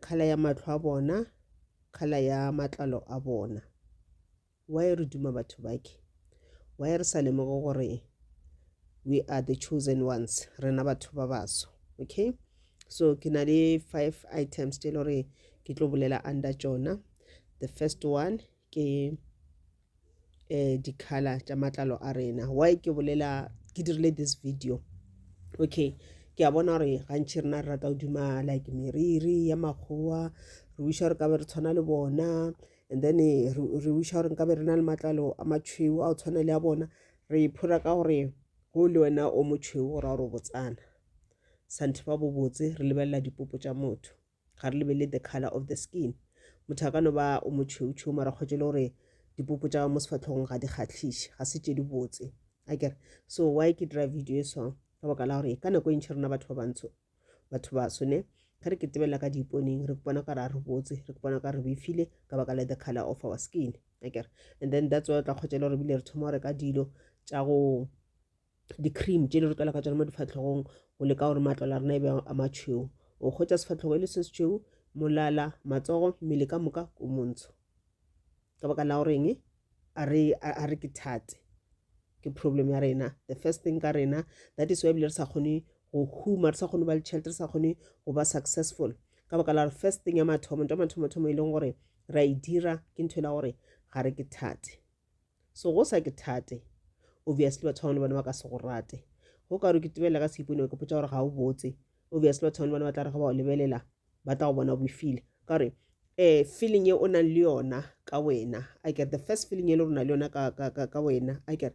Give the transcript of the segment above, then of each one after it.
Kgala ya mahlo a bona, kgala ya matlalo a bona. Why re duma batho bake? Why re sa lemoge gore we are the chosen ones, rena batho ba baso? Okay, so ke na le five items tse e le gore ke tlo bolela under tsona. The first one ke eh, di-color tša matlalo a rena why ke bolela ke dirile this video okay ke a bona gore gantšhi rena re rata go duma like meriri ya makgowa re wiša gore ka be re tshwana le bona and then eh, re re wiša gore nka be re na le matlalo a matšhweu a go tshwana le a bona re iphora ka gore go le wena o motšhweu gore a gore o botsana santhe ba bobotse re lebelela dipopo tša motho ga re lebelele the color of the skin motho a ka no ba o motšheutšheu mara kgwetše le gore dipopo tša mo sefatlhogong ga di kgatlhiše ga se tše di botse a kere so why ke dira video e swang ka baka la gore ka nako e ntšhi rona batho ba bantsho batho ba sone ge re ketebelela ka diiponeng re bona ka re a re botse re bona ka re befile ka baka la the color of our skin a kere and then that's why o tla kgwetša le gore ebile re thoma go reka dilo tša go di-cream tše di re tlwela ka tsona mo difatlhogong go leka gore matlwala a rena e be a matšhweu o kgwetsa sefatlhogo e le se setšhweu molala matsogo mmele ka moka o montsho ka baka la goreng a re ke thate ke problem ya rena the first thing ka rena that is why ebile re sa kgone go huma re sa kgone go ba le tšhelete re sa kgone go ba successful ka baka la gore first thing ya mathomo nto mathomo thomo e leng gore ra e dira ke ntho e la gore ga re ke thate So go sa ke thate. Obviously batho ba bangwe le bona ba ka se go rate. Go ka re ke tebela ka seipone ke potsa gore ga o botse. Obviously batho ba bangwe le bona ba tla re ga ba o lebelela ba tla go bona o befile. Ka gore eh feeling e o nang le yona ka wena a kere the first feeling e le rona le yona ka ka ka ka wena a kere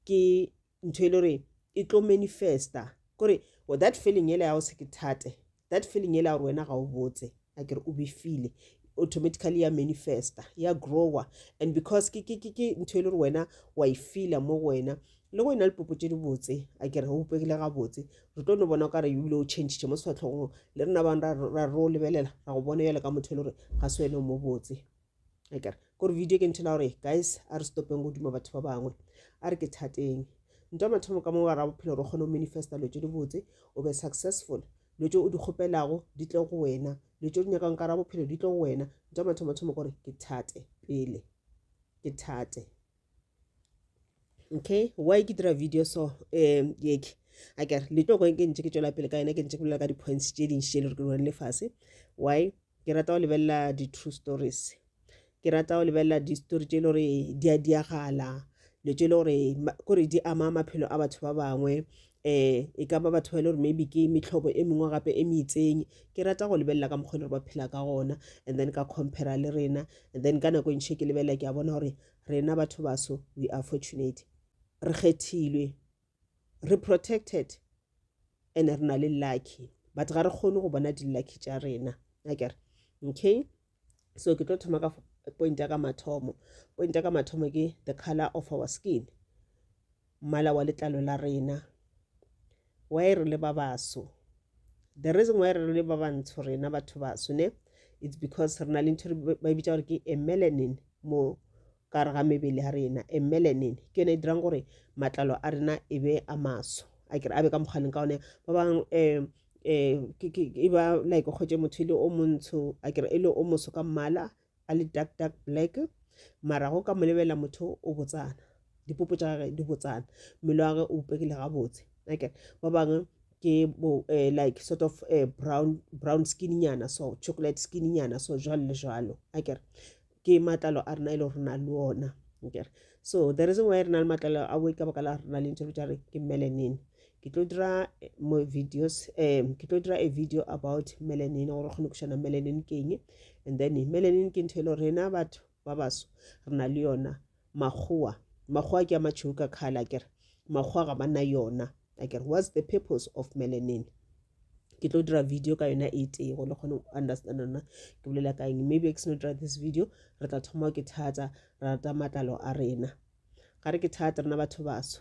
ke ntho e le gore e tlo manifesta kore well, that feeling ele ya go se ke thate that feeling yela gore wena ga o botse a kere o befile automatically ya manifesta ya grower and because ke ke ke ke ntho e le gore wena wa e feela mo go wena le go e na le popo tse di botse a kere go bopegile ga botse re tlo no bona o ka re ebile o changee mo sefatlhogong le rena bang ra ro lebelela ra go bona jale ka motho e le gore ga se wena o mo botse ekare kore video ke nthela gore guys a re stopeng go duma batho ba bangwe a re ke thateng ntwa mathomo ka mo wa ra bophelo re kgone go manifesta lo tse di botse o be successful lo tse o di kgopelago di tle go wena lo tse o di nyakang ka ra bophelo di tle go wena ntwa mathomo mathomo gore ke thate pele ke thate okay why ke dira video so um yeke a kere le tlo ke ntse ke tswela pele ka yona ke ntse ke bolela ka di-points tše dintši tše le re ke lone le fase why ke rata go lebelela di-true stories ke rata go lebelela di-story tše e le gore di a diagala dilo tše e le gore kore di ama maphelo a batho ba bangwe um e ka ba batho ba e le gore maybe ke metlhobo e mengwe gape e meitseng ke rata go lebelela ka mokgwa e le gore ba phela ka gona and then ka compara le rena and then ka nako e ntšhe ke lebelela ke a bona gore Rena batho baso we are fortunate. Re kgethilwe, re protected and re na le lucky but ga re kgone go bona di-lucky tša rena akere okay so ke tlo thoma ka point ya ka mathomo point ya ka mathomo ke the color of our skin Mmala wa letlalo la rena. Why re le ba baso. The reason why re le ba bantsho rena batho baso ne, it's because re na le ntho ba e bitsa gore ke a melanin mo ka re ga mebele ya rena. A melanin ke yone e dirang gore matlalo a rena e be a maso. A kere a be ka mokgaleng ka one ba bang um um e ba like kgwetse motho e le o montsho a kere e le o moso ka mmala a le dark dark black mara go ka mo lebelela motho o botsana dipopo tša gage di botsana mmele wa gage o upegile gabotse okay ba bangwe ke bo eh, like sort of eh, brown brown skin nyana so chocolate skin nyana so jwalo le jwalo akere ke matlalo a rena e le gore na le ona akere so the reason why re na le matlalo a boe ka baka la rena le ntho tša re ke melanin ke tlo dira eh, mo videos um ke tlo dira a video about melanin gore kgone go šana melanin ke eng and then melanin ke ntho e le gore rena batho ba baso re na le yona makgowa makgowa ke a matšheu ka kgala kere makgowa ga ba na yona a kere what's the purpose of melanin ke tlo dira video ka yona e tee go le kgone go understand ona ke bolela ka eng maybe ke seno dira this video re tla thoma ke thatsa ra rata matlalo a rena ga re ke thata rena batho baso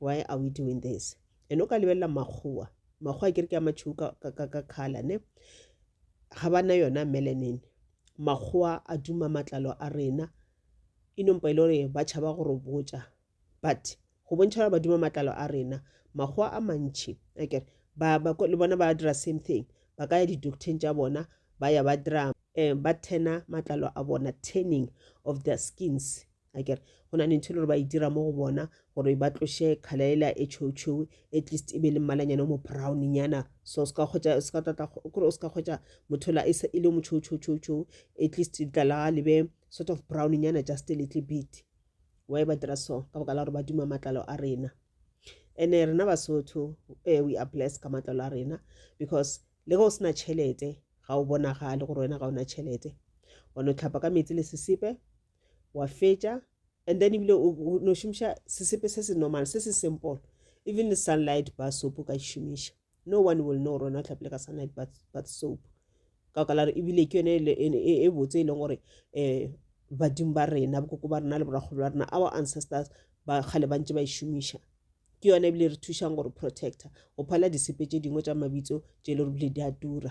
why are we doing this and o ka lebelela makgowa makgowa ke re ke a matšheu ka khala ne ga ba na yona melanin makgowa a duma matlalo a rena e nompa e le gore ba tšhaba go re botša but go bontšha gore ba duma matlalo a rena makgowa a mantšhi akere le bona ba dira same thing ba ka ya di-docteng tša bona ba ya ba dira um ba tena matlalo a bona tanning of their skins a kere go na le ntho e le gore ba e dira mo go bona gore ba tloše kgala ela e tšhoutšhou at least e be le mmalanyane o mo brownnyana so se ka kgwetsa se ka tata kore o se ka kgwetsa motho la e le mo tšhoutšhoutšhoutšhou at least letla la le be sort of brownnyana just a little bit why ba dira so ka baka la gore ba duma matlalo a rena ene rena basotho eh, we are blessed ka matlalo a rena because le ge o sena tšhelete ga o bonagale gore wena ga ona tšhelete wa no tlhapa ka metsi le sesepe wa fetša and then ebile o no šomiša sesepe se se normal se se simple even le sunlight bar soap o ka šomiša no one will know rona tlhapile ka sunlight bath soap ka baka la re ebile ke yone e, e, e botse e leng gore um badimo ba rena bokoko ba rena le borakgolo ba rena our ancestors ba kgale ba ntse ba e šomiša ke yone ebile re thušang gore protector go phala disepe tše dingwe tša mabitso tše e le gore bile di a tura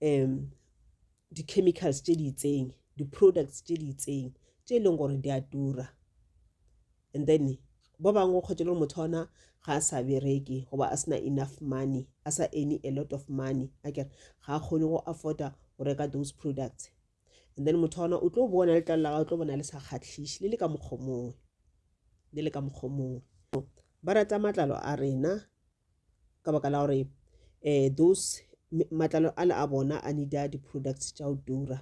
um di-chemicals tše di itseng di-products tše di itseng tše e leng gore di a tura and then ba bangwe o kgwetše le gore motho ona ga a sa bereke goba a sena enough money a sa any a lot of money a kere ga a kgone go afforda go reka those products and then motho ona o tlo bona letlalo la gage o tlo bona le sa kgatlhiše le le ka mokgomongwe le le ka mokgomongwe ba rata matlalo a rena ka baka la gore um those matlalo a le a bona a needa di-products tša go tura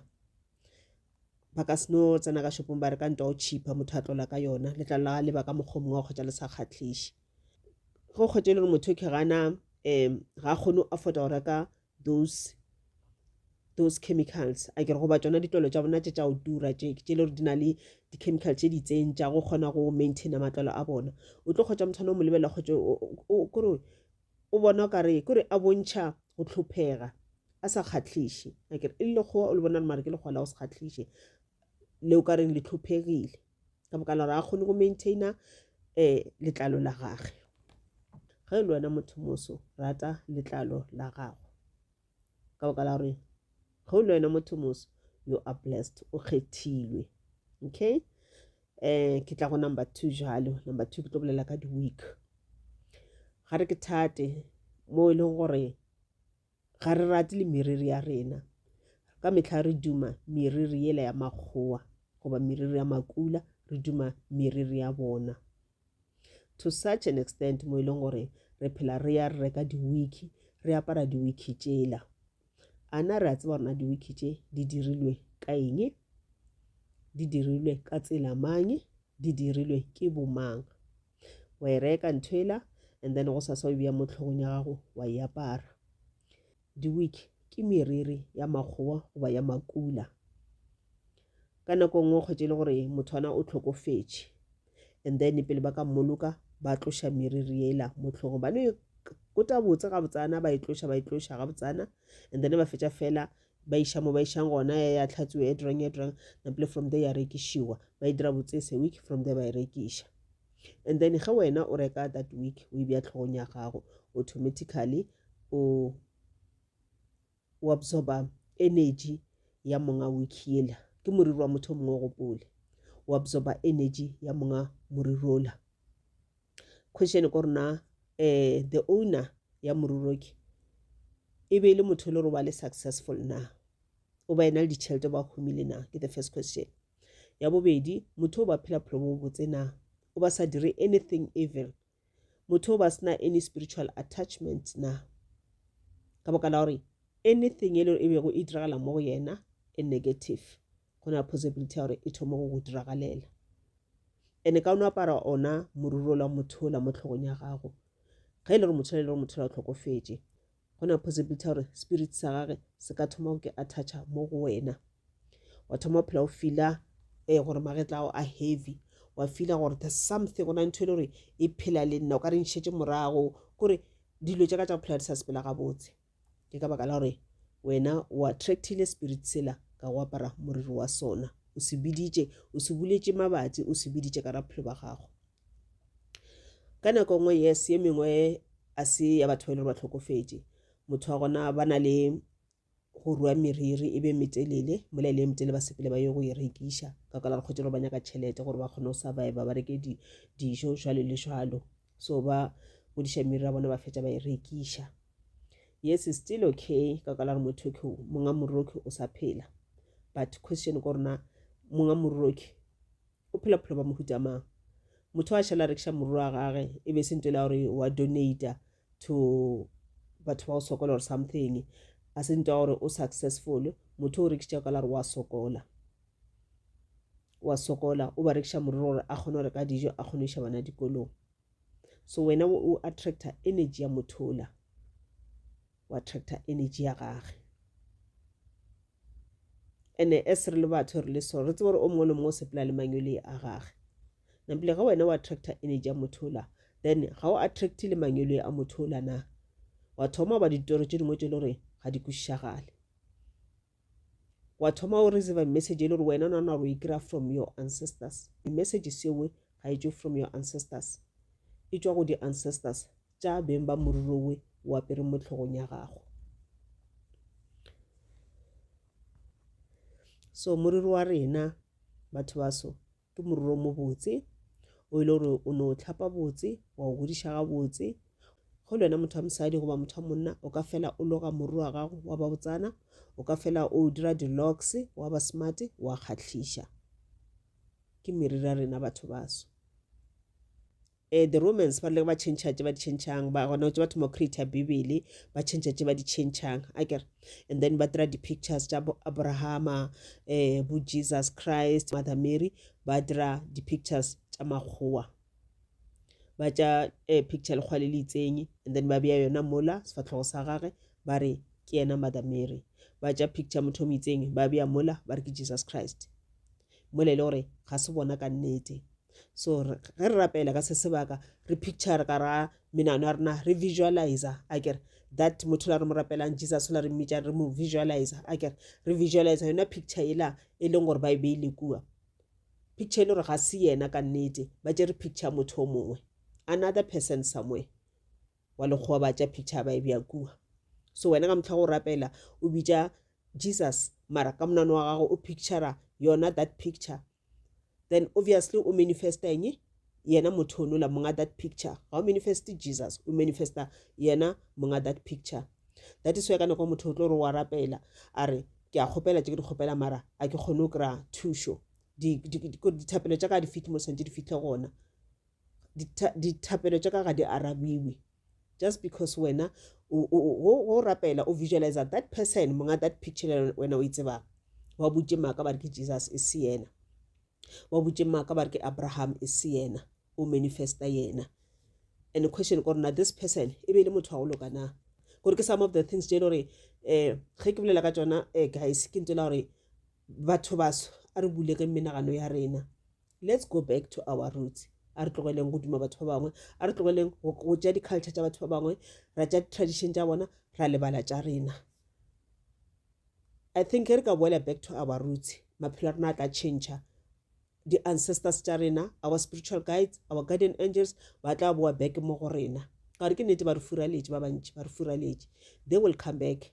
ba ka seno tsena ka shopong ba re ka ntwa o cheaper motho a tlola ka yona letlalo la leba ka mokgwa mongwe wa kgotsa le sa kgatlhiše go kgwete le gore motho ke gana um ga kgone go afforda go reka those those chemicals a ke re goba tšona ditlolo tša bona tše tša go tura tše tše le gore di na le di-chemical tše di itseng tša go kgona go maintaina matlalo a bona o tlo kgotsa motho o mo lebelela kgotse kore o bona o kare kore a bontšha go tlhophega a sa kgatlhiše akere e le lekgowa o le bona le mare ke lekgowa la go se kgatlhiše le o ka reng le tlhophegile ka baka la gore a kgone go maintaina um eh, letlalo la gage ge e le wena motho moso rata letlalo la gago ka baka la gore ge o le wena motho moso you are blessed o kgethilwe okay um ke tla go number two jalo number two ke tlo bolela ka di-week ga re ke thate mo e leng gore ga re rate le meriri ya rena ka metlha re duma meriri yela ya makgowa goba meriri ya makula re duma meriri ya bona to such an extent mo e leng gore re phela re ya re reka di-wiki re apara di-wiki tšela a na re a tseba rona di-wiki tše di dirilwe ka eng di dirilwe ka tsela mang di dirilwe ke bomang wa e reka ntho ela and then go sasa o e beya mo tlhogong ya gago wa e apara di-week ke meriri ya makgowa goba ya makula ka nako nngwe kgwetse e le gore motho ana o tlhokofetše and then pele ba ka mmoloka ba tloša meriri ela mo tlhogong ba no e kota botse gabotsana ba e tloša ba e tloša gabotsana and then ba fetša fela ba iša mo ba išang gona ya ya tlhatsoe e drang e drang napele from there ya rekišiwa ba e dira botsese week from there ba e rekiša and then ge wena o reka that week o e bja tlhogong ya gago automatically o o absorba energy ya monga week yela ke moriri wa motho mongwe o gopole o absorba energy ya monga moriri ola question ko rona eh the owner ya moruroki e be e le motho e le gore wa le successful na o ba ena le ditšhelete ba humile na ke the first question ya bobedi motho o ba phela phelo bo botse na o ba sa dire anything evil motho o ba sena any spiritual attachment na ka boka la gore anything e le e bego e diragala mo go yena e negative go na possibility ya gore e thoma go go diragalela ene ka o no apara ona moruro la mothola mo tlhogong ya gago ge e le gore mothola e le gore mothola o tlhokofetše go na possibility ya gore spirit sa gage se ka thoma go ke attacha mo go wena wa thoma phela o fila um eh, gore magetla ao a heavy wa fila gore the something go na ntho e le gore e phela le nna o ka re ntšhetse morago kore dilo tša ka tša go phela di sa sepela gabotse Ke ka baka la gore wena o attractile spirit sela ka go apara moriri wa sona, o se biditše, o se buletše mabatsi, o se biditše ka raphelo ba gago. Ka nako nngwe yes ye mengwe a se ya batho ba ile ba tlhokofetše motho wa gona ba na le go rua meriri e be metelele mola e le metelele ba sepele ba ye go e rekiša ka kwala re kgwetse gore ba nyaka tšhelete gore ba kgone go surviva ba reke dijo jalo le jalo so ba godiša meriri ya bona ba fetša ba e rekiša yes is still okay ka ka la gore motho ke monga morroki o sa phela but question ko rona monga morroki o phela bophelo ba mohuta mang motho a šhala rekiša morro wa gage e be se nto la gore wa donata to batho ba go sokola or something a se nto ya gore o successful motho o rekiša ka la gore wa sokola wa sokola o ba rekiša morero gore a kgone go reka dijo a kgone go iša bana dikolong so wena o attracta energy ya motho ola o attracta energy ya gage ene as re le batho re le so re tsebe gore o mongwe le mongwe o sepela le mangwele a gage napile ga wena o attracta energy ya motho ola then ga o attracte le mangwele a motho ola na wa thoma ba ditoro tse dingwe tse le gore ga di kwešišagale wa thoma o receive message e le gore wena o nana gore o e kry-a from your ancestors di-message sewe ga e tswe from your ancestors e tswa go di-ancestors tša beng ba morirowe o apere mo tlhogong ya gago so moriri wa rena batho ba so ke moriri o mobotse o ile gore o no tlhapa botse wa o godiša ga botse go lwena motho wa mosadi goba motho wa monna o ka fela o loga moriri wa gago wa ba botsana o ka fela o dira di-locks wa ba smart wa kgatlhiša ke meriri ya rena batho baso Ee, the Romans ba rile ba tšhentšha tše ba di tšhentšhang, ba gona tše ba thoma go creata Bibele, ba tšhentšha tše ba di tšhentšhang, a kere. And then ba dira di-pictures tša bo Abrahama, um bo Jesus Christ, Mother Mary, ba dira di-pictures tša makgowa. Ba tša um picture lekgwa le le itseng, and then ba beya yona mola sefatlhogo sa gage, ba re ke yena Mother Mary. Ba tša picture motho o mo itseng, ba beya mola, ba re ke Jesus Christ. Mola e le gore ga se bona ka nnete. so ge re rapela ka se sebaka re picture ka ra menano ya rena re visualize a kere that motho la re mo rapelang jesus la re mmitša re mo visualize a kere re visualize yona picture ela e leng gore ba e beile kua picture e le gore ga se yena ka nnete ba tšere picture motho o mongwe another person somewhere wa lekgowa ba tša picture ba e bja kua so wena ka motlha go rapela o bitša jesus mara ka monano wa gago o pictura yona that picture then obviously o manifesta eng yena motho onola monga that picture ga o manifest jesus o manifesta yena monga that picture that is why ka nako motho o tlo re wa rapela a re ke a kgopela tse ke di kgopela mara a ke kgone go kry-a thušo dithapelo tša ka di fitlhe mo santse di fitlhe gona dithapelo tša ka ga di arabiwe just because wena go rapela o visualizer that person monga that picture le wena o e tsebang wa butše maaka ba re ke jesus e se yena wa butše maaka ba re ke abraham e se yena o manifesta yena and the question ko rena this person e be e le motho wa go loka na gore ke some of the things tše e le gore um ge ke bolela ka tsona um guys ke ntse la gore batho baso a re bulege menagano ya rena Let's go back to our roots. A re tlogeleng go duma batho ba bangwe, a re tlogeleng go tša di-culture tša batho ba bangwe, ra tša di-tradition tša bona, ra lebala tša rena. I think re ka boela back to our roots, maphelo a rena a tla change di-ancestors tša rena, our spiritual guides, our guardian angels, ba tla boa back mo go rena. Gore ke nete ba re furaletše ba bantši, ba re furaletše. They will come back.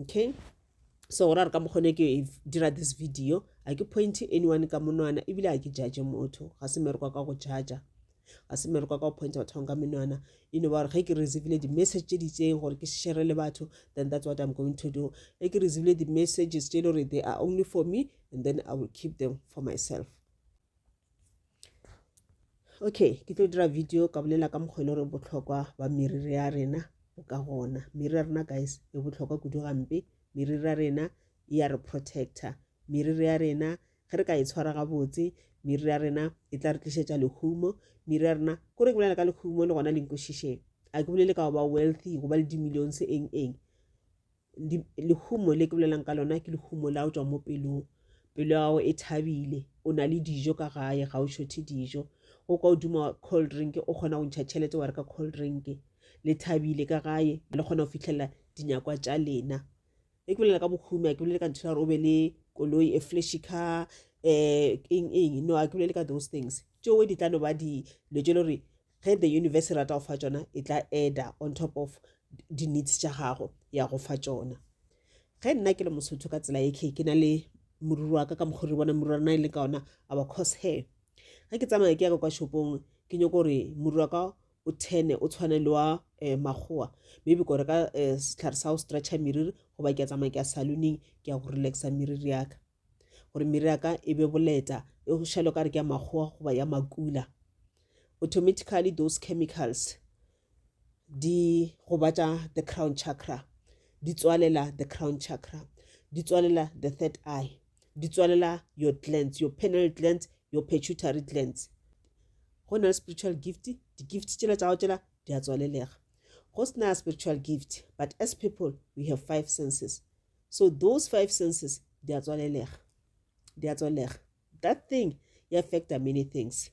okay so gore a re ka mokgone ke e dira this video a ke point anyone ka monwana ebile a ke judge motho ga se merekwa ka go judge ga se merekwa ka go pointa batho bang ka menwana e no ba gore ge ke receivile di-message tse di itseng gore ke shere le batho then that's what i'm going to do ge ke receivile di-messages tse e le gore they are only for me and then i will keep them for myself okay ke tlo dira video ka bolela ka mokgwa e le gore botlhokwa ba meriri ya rena bo ka gona meriri ya rena guys e botlhokwa kudu gampe meriri ya rena e ya re protector meriri ya rena ge re ka e tshwara gabotse meriri ya rena e tla re tlišetša lehumo meriri ya rena ko re ke bolela ka lehumo le gona le nkwešišeng a ke bolele ka go ba wealthy go ba le di-millions eng eng lehumo le ke bolelang ka lona ke lehumo la o tswa mo pelong pelo ya gago e thabile o na le dijo ka gae ga o shothe dijo go kwa odimo wa cold drink o kgona go ntšha tšhelete wa re ka cold drink le thabile ka gae le kgona go fitlhelela dinyakwa tša lena e ke bolela ka bohumi a ke bolele ka ntho ya gore o be le koloi e flashy car um eng eng no a ke bolele ka those things tšeo di tla no ba dilo tše le gore ge the universe e rata go fa tšona e tla eda on top of di-needs tša gago ya go fa tšona ge nna ke le mosotho ka tsela eke ke na le moriri wa ka ka mokgwa re bona moriri wa rena e leng ka ona our cause hair ge ke tsamaya ke ya ka kwa shopong ke nyoko gore moriri wa ka o tene o tshwane le wa um makgowa maybe kore ka um setlhare sa go stretcha meriri goba ke ya tsamaya ke ya saloning ke ya go relaxa meriri yaka gore mere ya ka e be boleta e go šalo ka re ke ya makgowa goba ya makula automatically those chemicals di gobatša the crown chakra di tswalela the crown chakra di tswalela the third eye di tswalela your glands your penal glands your pituitary glands go na le spiritual gift di-gift tšela tša go tšela di a tswalelega go sena spiritual gift but as people we have five senses so those five senses di a tswalelega di a tswalega that thing e affecta many things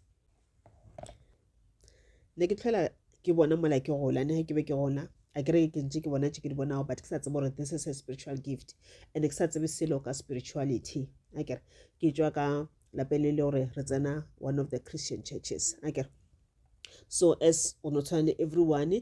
ne ke tlhola ke bona mola ke gola ne ke be ke gona a ke reke ke ntse ke bona tse ke di bonago but ke sa tsebe gore this is a spiritual gift and ke sa tsebe selo ka spirituality a kere ke tswa ka lapeng le le gore re tsena one of the christian churches a kere so as o no tshwana le everyone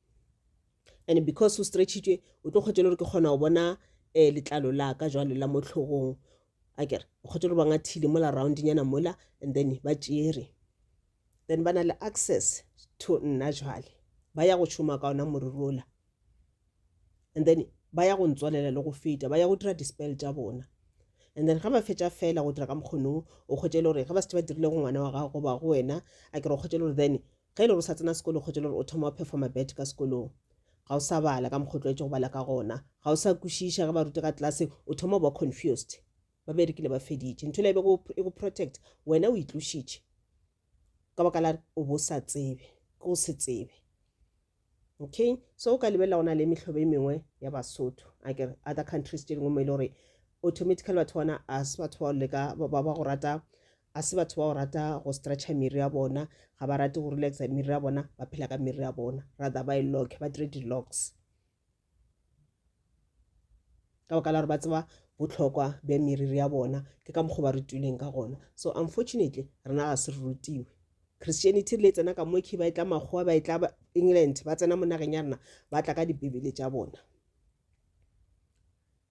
and because o stretchitšwe o tlo kgwetšele gore ke kgona go bona um letlalo la ka jwale la mo tlhogong a kere o kgwetše gore ba ngathile mola roundnyana mola and then ba tšere then ba na le access to nna jwale ba ya go šoma ka ona moriri ola and then ba ya go ntswalela le go feta ba ya go dira dispel tša bona and then ga ba fetša fela go dira ka mokgonong o kgwetšele gore ge ba setse ba dirile go ngwana wa gago goba go wena a kere o kgwetšele gore then Ge e le gore o sa tsena sekolo kgotša e le gore o thoma wa phefwa mabete ka sekolong, ga o sa bala ka mokgwa o tlwaetše go bala ka gona, ga o sa kwešiša ge ba rute ka tlase, o thoma go ba confused. Ba berekile ba feditše. Ntho yela e bego e go protect, wena o itlošitše ka baka la o bo o sa tsebe, ke go se tsebe. Ok, so o ka lebelela go na le mehlobo e mengwe ya Basotho a ke other countries tše dingwe mo e le gore automatically batho bona a se batho ba leka ba ba go rata a se batho ba go rata go stretcher miri ya bona ga ba rate go relaxa miri ya bona ba phela ka miri ya bona rather ba e lock ba dire di-locks ka baka la gore ba tseba bohlokwa bja meriri ya bona ke ka mokgwa ba re tuleng ka gona so unfortunately rena ga se re rutiwe christianity le tsena ka moke ba e tla makgowa ba e tla england ba tsena mo nageng ya rena ba tla ka dibebele tša bona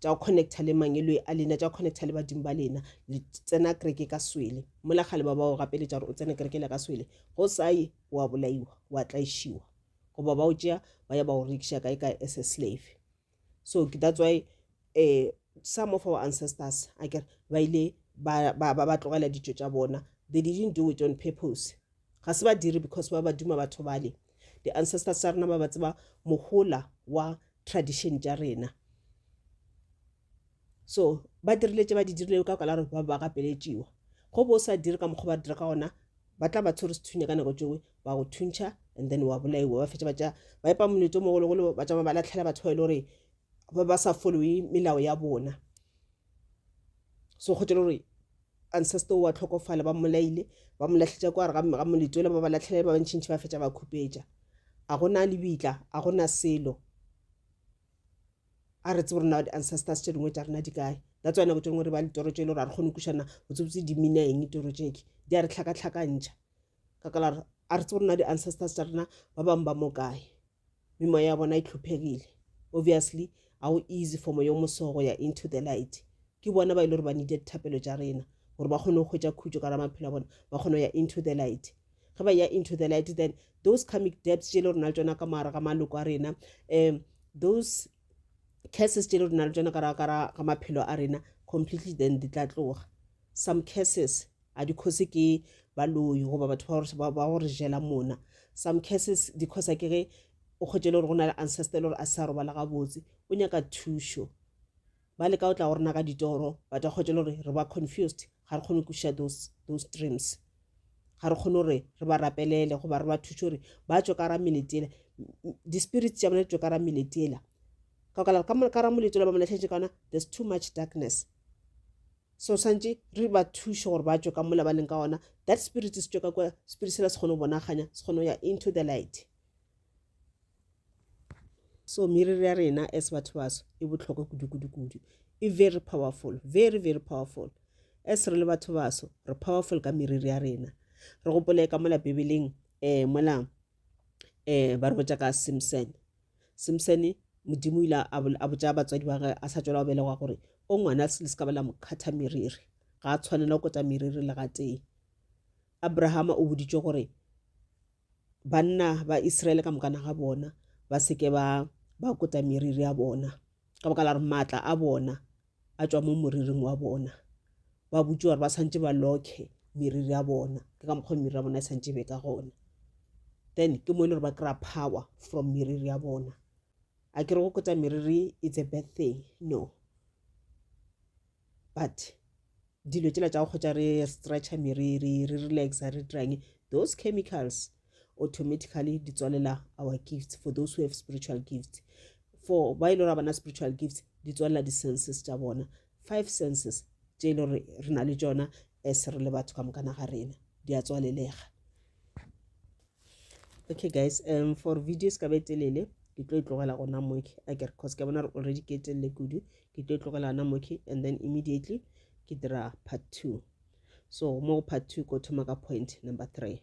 tša connecta le mangeloi a lena tša connecta le badimo ba lena le tsena kereke ka swele mola kgale ba ba o gapeletša gore o tsene kereke le ka swele go sa ye wa bolaiwa wa tlaišiwa goba ba o tšea ba ya ba o rekiša kae ka as a slave so that's why um some of our ancestors a kere ba ile ba tlogela ditšo tša bona they didn't do it on purpose ga se badiri because ba ba duma batho bale di ancestors tsa rena ba ba tseba mohola wa tradition tša rena so ba dirile tše ba di dirilego ka kwala gore ba ba gapeletšiwa go bo o sa dire ka mokgwa ba dira ka gona ba tla ba tshwere sethunya ka nako tšeo ba go thuntšha and then wa bolaiwa ba fetša batša ba epa moletso mogologolo ba tšama ba latlhela batho ba e le gore ba ba sa followe melao ya bona so go tšele gore Ancestor o a hlokofala, ba mmolaile, ba mo lahletša kwa gare ga, ga moletole, ba ba latlhelela ba bantšintši, ba fetša ba khupetša. A go na lebitla, a go na selo. A re tsebe gore na di-ancestors tše dingwe tša rena di kae. That's why nako tše dingwe re ba le toro tše e le gore ga re kgone go kwišana botsebotse di mina eng toro tše tše. Di a re tlhakatlhakantšha ka ka la gore a re tsebe gore na di-ancestors tša rena ba bangwe ba mo kae. mi moya ya bona e tlhophegile obviously a o easy for moya o moso go ya into the light ke bona ba ile gore ba needed thapelo tša rena gore ba kgone go hwetša khutšo ka ra maphelo a bona ba kgone go ya into the light ge ba ya into the light then those comic debts tše le rena le tsona ka moara ga maloko a rena um those curses tše le rena le tsona ka ra maphelo a rena completely then di tla tloga some curses a dikgosi ke baloi goba batho ba gore- ba- ba go re jela mona some cases dikgosa ke ge o kgwetše le gore go na le ancestor e le gore a sa robala gabotse o nyaka thušo ba leka o tla go rena ka ditoro but ba kgwetše le gore re ba confused ga re kgone go kwešiša those, those dreams ga re kgone gore re ba rapelele goba re ba thuše gore ba tswe ka ra melete ele di-spirit tša bona di tswe ka ra melete ela ka baka la gore ka mo- ka ra molete ola ba mo lahletše ka ona there's too much darkness So swantše re ba thuše gore ba tšwe ka mola ba leng ka gona, that spirit se tšwe ka kua, spirit sela se kgone go bonaganya, se kgone go ya into the light. So meriri ya rena as batho baso e bohlokwa kudu-kudu-kudu, e very powerful, very very powerful. As re le batho baso re powerful ka meriri ya rena. Re gopole ka mola Bibeleng um mola um ba re botša ka Simson, Simsene, Modimo o ile a, a botša batswadi ba gage a sa tšwela go belegwa gore, O ngwana le se ka ba la mo kgatha meriri. Ga a tshwanela go kota meriri le gatee. Abrahama o boditšwe gore banna ba Israele ka mokana ga bona ba seke ba ba kota meriri ya bona ka baka la gore maatla a bona a tšwa mo moriring wa bona ba botse gore ba santse ba lokhe meriri ya bona ke ka mokgwa meriri ya bona e santse e be ka gona then ke mo e le gore ba kry-a power from meriri ya bona a ke re go kotsa meriri it's a bad thing no but dilo tsela tsa go kgotsa re stretcher meriri re relaxa re dirang those chemicals automatically di tswalela our gifts for those who have spiritual gifts for ba e le bona spiritual gifts di tswalela di-senses tša bona five senses tše e le gore re na le tsona as re le batho ka mokana ga rena di a tswalelega okay guys um for video se ka be telele ke tlo e tlogela gona moke a kere cause ke bona re already ke telele kudu ke tlo e tlogela gona moke and then immediately ke dira part two so mo part two ko thoma ka point number three